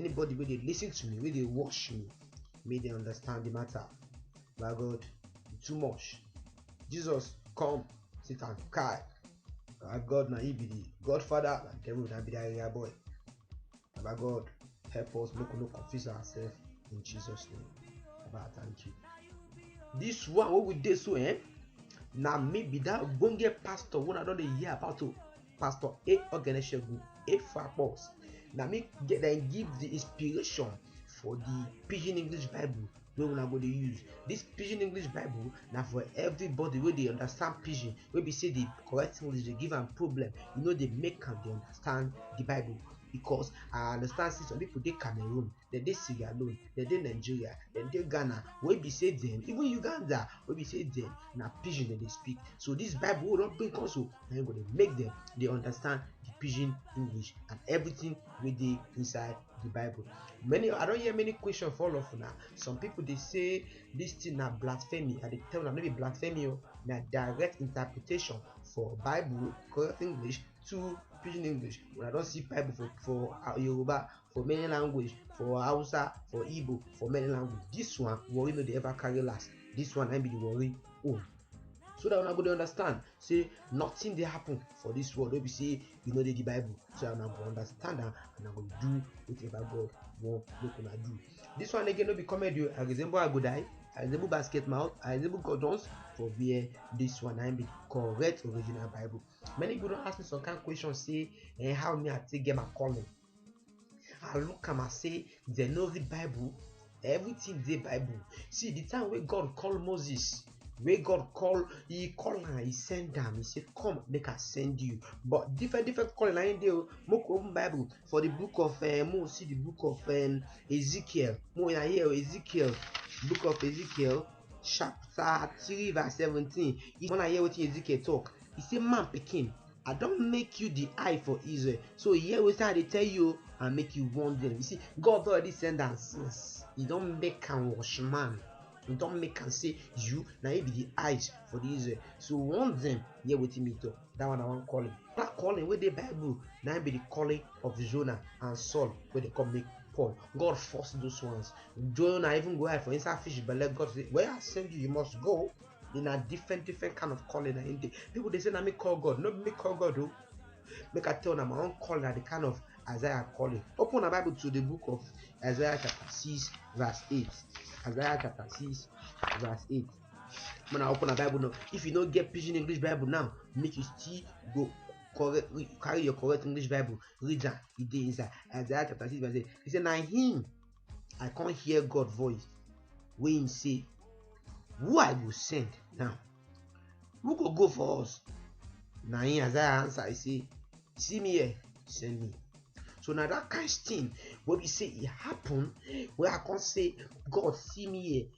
Anybody wey dey listen to me, wey dey watch me, make dem understand the matter. Baba God, you too much. Jesus, come, sit and kai. Baba God, na you be the Godfather, na devil na be the area boy. Baba God, help us make we no confuse ourselves in Jesus' name. Baba, thank you. This one wey we dey so, eh? Na me be that ogbonge pastor wey I don dey hear about o. pastor a ogeneshegun a fapos na me get dem give the inspiration for the pidgin english bible wey una go dey use this pidgin english bible na for everybody wey dey understand pidgin wey be say the correct english dey give am problem e no dey make am dey understand the bible because i understand say some people dey cameroon dem dey sierra leone dem dey nigeria dem dey ghana wey be say dem even uganda wey be say dem na pidgin dem dey speak so this bible wey don bring come so na im go dey make dem dey understand the pidgin english and everything wey dey inside the bible many i don hear many question for all of una some people dey say this thing na blasphemy i dey tell una no be blasphemy o na direct interpretation for bible correct english to pidgin english una don see bible for for yoruba for many language for hausa for igbo for many language this one worry no dey ever carry last this one na be the worry own so that una go dey understand say nothing dey happen for this world wey be say you no dey the bible so una go understand am and una go do whatever god wan make una do this one again no be comedy o i resemble agodai i resemble basket mouth i resemble god jones for where this one na be correct original bible many people don ask me some kind questions say eh, how me i take get my calling I look am as say dem no read Bible. Everything dey Bible. See the time wey God call Moses, wey God call, he call am, he send am, he say, Come, make I send you. But different different calling na him dey o. Make we open Bible for the book of uh, make we see the book of um, Ezekiel. Make we na here o, Ezekiel, book of Ezekiel, chapter three verse seventeen. If una hear wetin Ezekiel talk, he say, Man pikin, I don make you the eye for Israel. So hear wetin I dey tell you and make you warn them. You see, God don already send am since. He don make am watchman. He don make am say you na you be the eyes for the Israel. So warn them. Hear wetin me talk. That one na one calling. That calling wey dey Bible na im be the calling of Jonah and Saul wey dey come make Paul. God force those ones. Jonah even go hide for inside fish belle. God say, where I send you, you must go. They na different different kind of calling na him dey. People dey say na me call God, no be me call God o. Make I tell na my own calling na the kind of Isaiah calling. Open na Bible to the book of Isaiah chapter six verse eight. Isaiah chapter six verse eight. When I open a Bible now, if you no get pidgin English Bible now, make you still go correct re- carry your correct English Bible, read am, e dey inside. Isaiah chapter six verse eight. He say na him i come hear god voice wey him say who i go send now who go go for us na him isaiah answer i say see me here send me so na that kind thing wey be say e happen wey i come say god see me here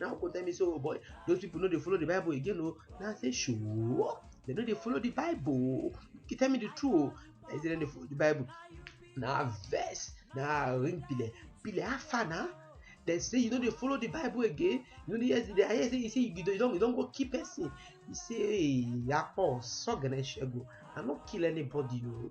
now go tell me say oh boy those people no dey follow the bible again o na i say sure dem no dey follow the bible you tell me the truth o i say dem dey follow the bible na verse na ring pile pile how far na dem say you no dey follow the bible again you no dey hear the i hear say you say you don you don you don go kill person you say hey akpo sọgẹnẹ ṣẹgun i no kill anybody o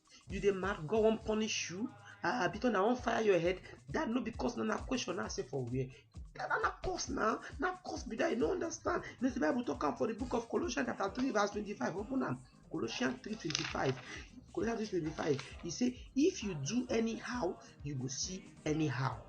you dey mad god wan punish you ah because na wan fire your head that no be cause na na question na say for where that na na cause na na cause be that you no understand you know say bible talk am for the book of colossians chapter three verse twenty-five open am colossians three twenty-five colossians three twenty-five e say if you do anyhow you go see anyhow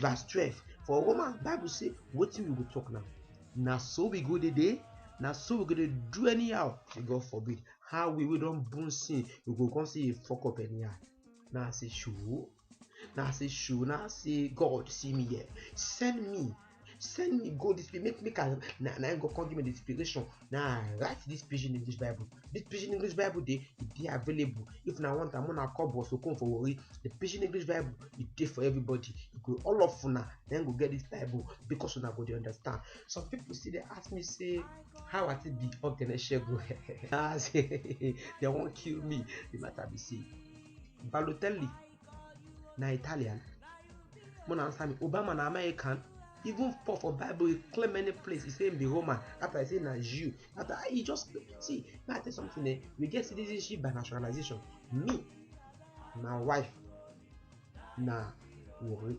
verse twelve for romans bible say wetin we go talk now na so we go dey dey na so we go dey do anyhow may god forbid how we wey don born sin we go come see a fuck up anyhow na as a show na as a show na as a god see me here send me send me go this place make make i na na im go come give me the inspiration na i write this pidgin english bible this pidgin english bible dey e dey available if na one time una come boss okon for warri the pidgin english bible e dey for everybody e go all of una na im go get this bible because una go dey understand some people still dey ask me say how i take be ogene segun ah say they wan kill me the matter be say balotelli na italian more na answer me obama na american even paul for bible he claim many place he say him be roman after he say na jew after ah, he just see may i tell something eh we get citizenship by naturalization me my wife na warri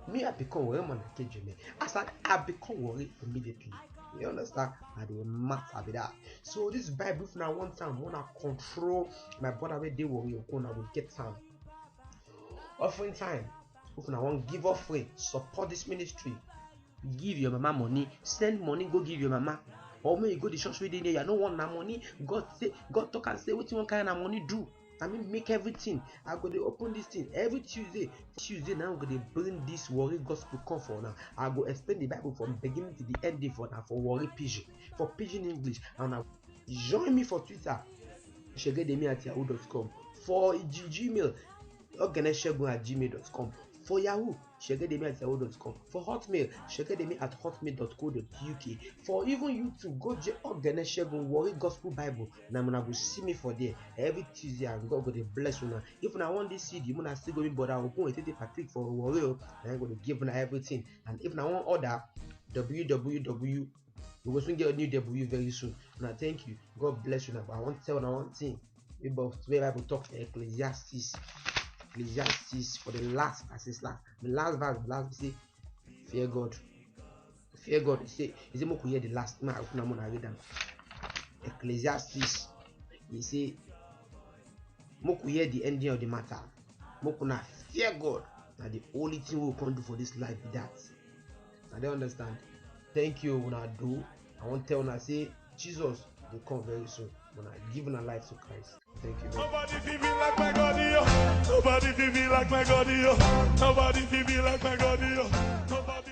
me i become worry man i get jeme as i i become worry immediately you understand na the matter be that so this bible if na one time wanna control my brother wey dey worry your corner go get am offering time if una wan give offering support this ministry give your mama money send money go give your mama or make you go the church wey dey near you i no want na money god say god talk am say wetin you wan carry na money do I mean make everything. I go dey open this thing every Tuesday. Tuesday now go dey bring this worry gospel come for now. I go explain the Bible from beginning to the end day for now for worry pidgin for pidgin English and I join me for Twitter shegedemi at yahoo.com for Gmail ogeneshegun at gmail.com for Yahoo shegedemi at yahoo.com for hotmail shegedemi at hotmail.co.uk for even youtube go je ogene segun worry gospel bible na una go see me for there every tuesday and god go dey bless una if una wan this cd una still go be border ogun etete patrick for worry o na him go dey give una everything and if una wan order www we go soon get a new w very soon una thank you god bless una but i wan tell una one thing Bible, the Bible talks in Ecclesiastes, Ecclesiastes for the last, I say last, the last verse, the last say, fear God. Fear God. He say, he say, Moku hear the last, man, I open them and read them. Ecclesiastes, he say, Moku hear the ending of the matter. Moku na fear God. Now the only thing we can do for this life be that. na dey understand thank you una do i wan tell una say jesus dey come very soon una give una life to christ thank you very much. Nobody feel me like my God, yo. Nobody feel me like my God, yo. Nobody feel me like my God, yo. Nobody.